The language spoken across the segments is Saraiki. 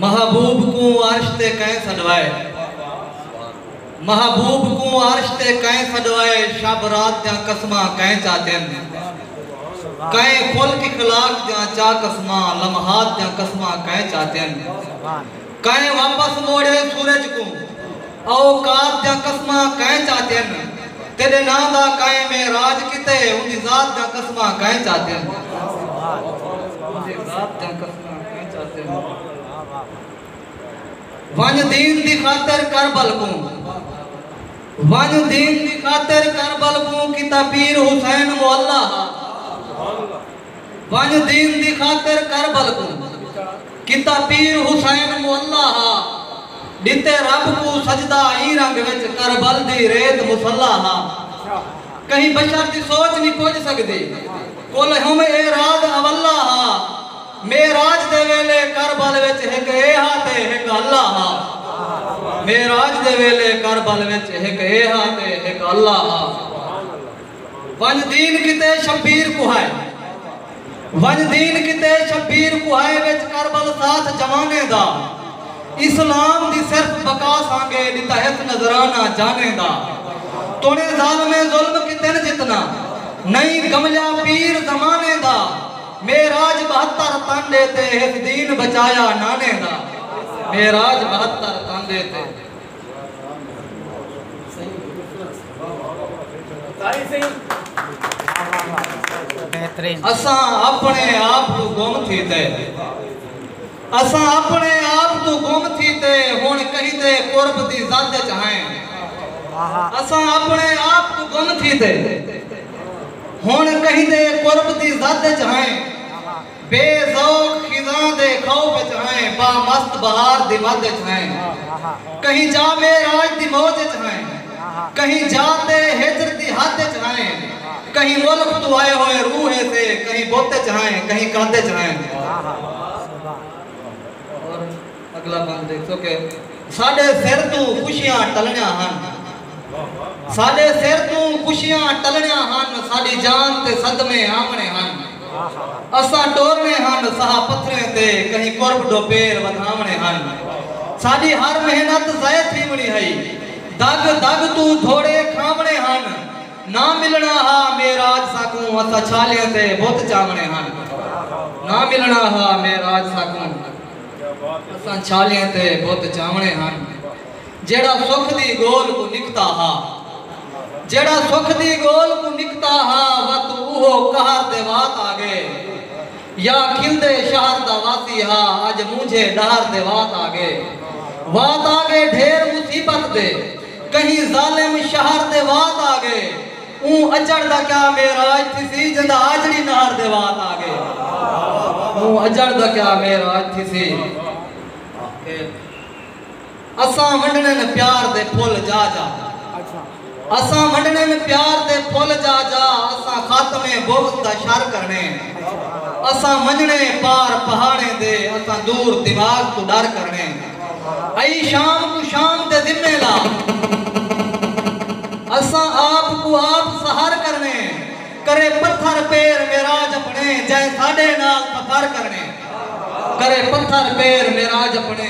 محبوب کوں عرش تے کئیں سݙوائے محبوب کوں عرش تے کئیں سݙوائے شب رات دیاں قسماں کئیں چا ݙن کئیں خلق اخلاق دیاں چا قسماں لمحات دیاں قسماں کئیں چا ݙن کئیں واپس موڑے سورج کوں اوقات دیاں قسماں کئیں چا ݙن تیݙے ناں دا کئیں معراج کیتے اوندی ذات دیاں قسماں کئیں چا ݙن ونڄ دین دی خاطر کربل کوں ونڄ دین دی خاطر کربل کوں کیتا پیر حسین معلی ہا ونڄ دین دی خاطر کربل کوں کیتا پیر حسین معلی ہا ڈتے رب کو سجدہ ایں رنگ وچ کربل دی ریت مصلی ہا کہیں بشر دی سوچ نہیں پج سکدی کل ہم اے رات اولا ہا۔ معراج دے ویلے کربل وچ ہک اے ہا تے ہک اللہ ہا۔ معراج دے ویلے کربل وچ ہک اے ہا تے ہک اللہ ہا۔ ونج دین کیتے شبیر کوہائے۔ ونج دین کیتے شبیر کوہائے وچ کربل ساتھ جوانیں دا۔ اسلام دی صرف بقا سانگے ڈتا ہک نذرانہ جانیں دا تونے ظالمیں ظلم کتن جتنا نئیں کملیا پیر زمانے دا معراج بہتر تن ڈے تے ہک دین بچایا نانے دا معراج بہتر تن ڈے تے اساں اپنے آپ کو گم تھی تے اساں اپݨے آپ توں گم تھی تے ہݨ کہیں دے قرب دی زد اچ ہائیں۔ اساں اپݨے آپ توں گم تھی تے ہݨ کہیں دے قرب دی زد اچ ہائیں۔ بے ذوق خزاں دے خوف اچ ہائیں بامست بہار دی مد اچ ہائیں۔ کہیں جامے راج دی موج اچ ہائیں۔ کہیں جا تے ہجر دی حد اچ ہائیں کہیں ملک توں آئے ہوئے روح اے تے کہیں بت اچ ہائیں کہیں قد اچ ہائیں۔ اور اگلا بند ڈیکھسو کہ ساڈے سر توں خوشیاں ٹلنیاں ہن ساڈے سر توں خوشیاں ٹلنیاں ہن ساڈی جان تے صدمے آونے ہن اساں ٹورنے ہن سہا پتھریں تے کہیں قرب ڈو پیر ودھاونے ہن ساڈی ہر محنت ضائع تھیونی ہئی۔ دڳ دڳ توں دھوڑے کھاوݨے ہن۔ نہ ملݨا ہا معراج ساکوں اساں چھالیاں تے بت چاوݨے ہن۔ نہ ملݨا ہا معراج ساکوں اساں چھالیاں تے بت چاوݨے ہن۔ جیڑھا سکھ دی ڳول کوں نکھدا ہا۔ جیڑھا سکھ دی ڳول کوں نکھدا ہا وت اوہو قہر دے وات آ ڳئے۔ یا کھلدے شہر دا واسی ہا اج مونجھے ڈہر دے وات آگے وات آگے ڈھیر مصیبت دے کہیں ظالم شہر دے وات آگے اوں اجڑ دا کیا معراج تھیسی جیندا آجڑی نہر دے وات آگے اوں اجڑ دا کیا معراج تھیسی۔ اساں ونڈنن پیار دے پھل جا جا اساں ونڈنن پیار دے پھل جا جا اساں خاتمے بغض دا شر کرنے اساں ونجنے پار پہاڑیں دے اساں دور دماغ توں ڈر کرنے ائی شام کوں شام دے ذمے لا اساں آپ کوں آپ سہر کرنے کرے پتھر پیر معراج اپنے جئیں ساڈے نال فخر کرنے کرے پتھر پیر معراج اپنے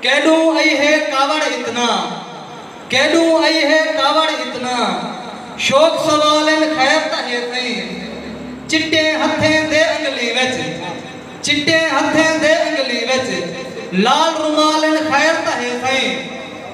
کیݙوں ائی ہے کاوڑ اتنا کیݙوں ائی ہے کاوڑ اتنا شوق سوال ان خیر تاں ہے تئیں چٹیں ہتھیں دے انگلیں وچ چٹیں ہتھیں دے انگلیں وچ لال رومال ان خیر تاں ہے تئیں۔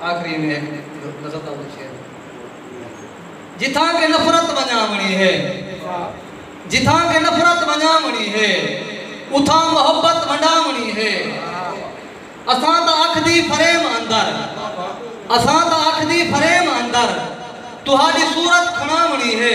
آخری میں ہک غزل دا اتوں شعر جتھاں کہ نفرت ونجاں ونی ہے جتھاں کہ نفرت ونجاں ونی ہے اتھاں محبت ونڈاں ونی ہے اساں دا اکھ دی فریم اندر اساں دا اکھ دی فریم اندر تہاڈی صورت کھڑاں ونی ہے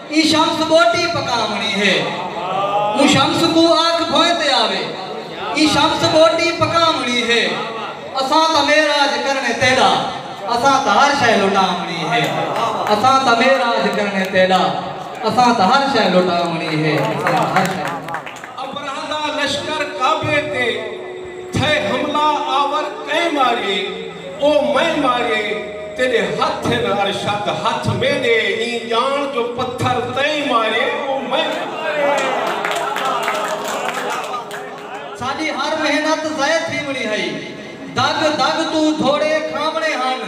ایں شمس ٻوٹی پکاوݨی ہے۔ اوں شمس کوں آکھ بھوئیں تے آوے۔ ایں شمس ٻوٹی پکاوݨی ہے۔ اساں تاں معراج کرݨے تیݙا۔ اساں تاں ہر شئے لٹاوݨی ہے۔ اساں تاں معراج کرݨے تیݙا۔ اساں تاں ہر شئے لٹاوݨی ہے۔ اساں تاں ہر شئے۔ ابرہہ دا لشکر کعبے تے تھئے حملہ آور کئیں ماریے او میں ماریے تیݙے ہتھ ہن ارشد ہتھ میݙے ایں ڄاݨ جو پتھر تئیں ماریے او میں ساݙی ہر محنت ضائع تھیوݨی ہئی دڳ دڳ توں دھوڑے کھاوݨے ہن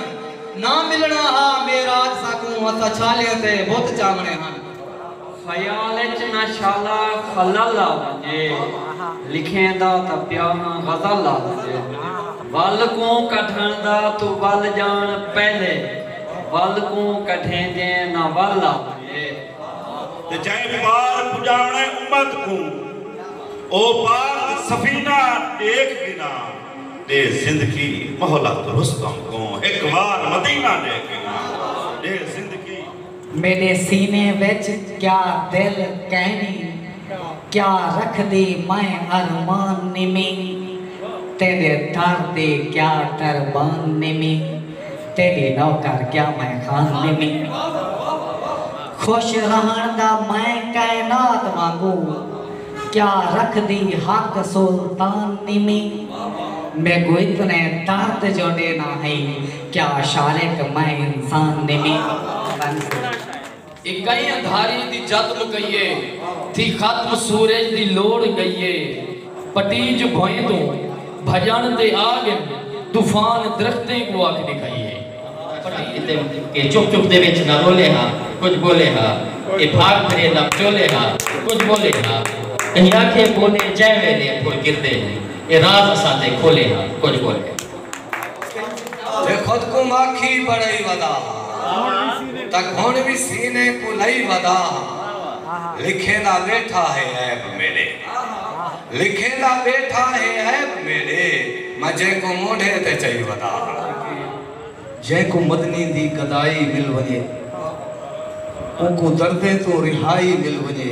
ناں ملݨا ہا معراج ساکوں ہتھاں چھالیاں تے بت چاوݨے ہن۔ خیال اچ نہ شالا خلل آ ونجے۔ لکھیندا تاں پیا ہاں غزل آ ونجے۔ ول کوں کڈھݨ دا توں ول ڄاݨ پہلے۔ ول کوں کڈھیں جیں نہ ول آ ونجے۔ تے جئیں پار پڄاوݨے امت کوں۔ او پاک سفینہ ݙیکھ گھنا۔ ݙے زندگی مہلت رستم کوں۔ ہک وار مدینہ ݙیکھ گھنا۔ ݙے زندگی۔ میݙے سینے وچ کیا دل کینی کیا رکھدی میں ارمان نیمی تیݙے در دی کیا دربان نیمی تیݙی نوکر کیا میں خان نیمی خوش رہݨ دا میں کائنات وانگو کیا رکھدی حق سلطان نیمی میکوں اتنے درد جو ݙینا ہئی کیا شاریں کہ میں انسان نمیں بن سوں۔ اکئی اندھاری دی جد مکئیے تھی ختم سورج دی لوڑ گئیے پٹیج بھوئیں توں بھجنڑ تے آ گن طوفان درختیں کوں اکھ ڈکھئیے پٹیج تے کہ چپ چپ دے وچ نہ رولے ہا کجھ بولے ہا اے بھاگ پھرے نہ پچولے ہا کجھ بولے ہا کہیں آکھے بولے جئیں ویلے پھل گردے ہیں اے راز اساں تے کھولے ہا کجھ بولے ہا۔ جے خود کوں ماکھی بݨائی ودا ہاں تاں گھن وی سینے کوں لئی ودا ہاں لکھیندا ٻیٹھا ہے عیب میݙے لکھیندا ٻیٹھا ہے عیب میݙے میں جینکوں مونڈھے تے چئی ودا ہاں۔ جینکوں مدنی دی گدائی مل ونڄے اونکوں دردیں توں رہائی مل ونڄے۔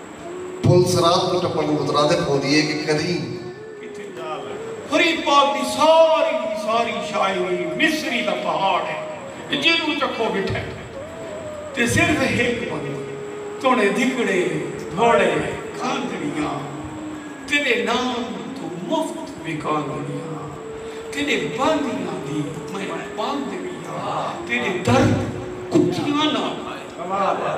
پل صراط کوں ٹپݨ دی مترادف ہوندی ہے کہ کدھیں۔ کتھیں جال ہے۔ فرید پاک دی ساری دی ساری شاعری مصری دا پہاڑ ہے تے جینوں چکھو ڈٹھے تے صرف ہک بندے توڑیں دھکڑے دھوڑے کھاندڑیاں تیڈے نام توں مفت وکاندڑیاں تیڈے باندیاں دی میں باندڑیاں تیڈے درد کتیاں نال کمال ہے۔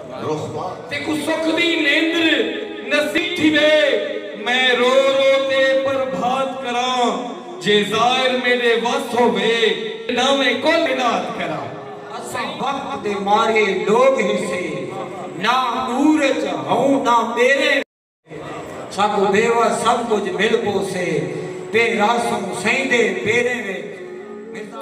تیکوں سکھ دی نیندر نصیب تھیوے میں رو رو تے پربھات کراں جے زائر میڈے وس ہووے ناویں کل اناد کراں۔ اساں وقت دے مارے لوگ ہیسے نہ عور اچ ہوں نہ ٻیرے وچ ساکوں بے وس سب کجھ مل پوسے پے رہسوں سئیں دے پیریں وچ مرزا۔